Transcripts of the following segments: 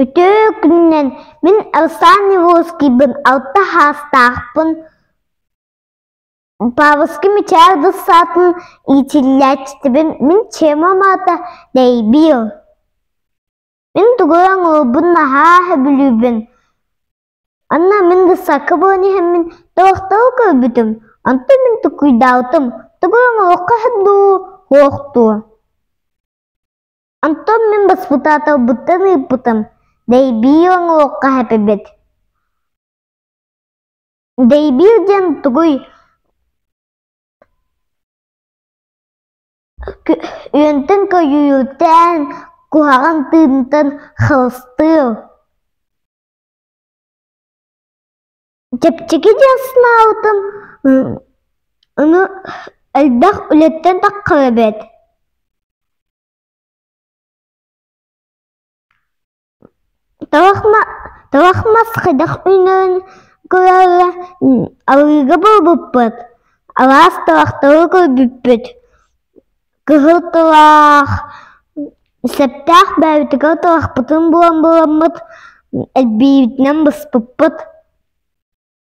Үтүө күнүнэн мин ыксаан Неволжскийбын алта саастаахпын Павловский мичээр ылсаатын иитиллээччитибин мин чемом аата Дэйбиил Мин тугу оҥолбун наһаа сөбүлүүбүн Онно мин ыксакка буолан иһэммин толоктоҕо көрбүтүм Онтон мин тукуйдаабытым Тугу оҥолуохха дуу, суох дуу Онтон мин баспытаата ылбытын ыыппытым, дэйбиир оҥоруохха сөп эбит Дэйбиир диэн тугуй? Үөнтэн көйүүрдээн, куһаҕан тыынтан хылыстыыр Чэпчэки диэн санаабытым аны элбэх үлэттэн таххар эбит Туох мас хайдах үүнэрин көрөөрү арыыга буолбуппут, алаас товахтары көрбүппүт, кыһыл товах, сөптөөх бэйбитигэр товахпытын булан буоламмыт, элбиибитинэн быспыппыт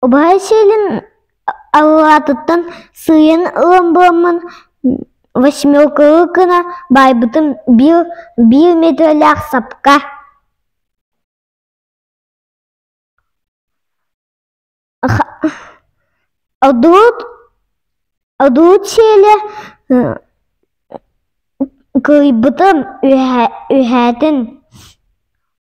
убайа сиэлин аллаатыттан сыыйан ылан буламмын восьмеркалыы гына баайбытым биир биир метрэлээх сапка одуут сиэлэ кыйбытым үһээтин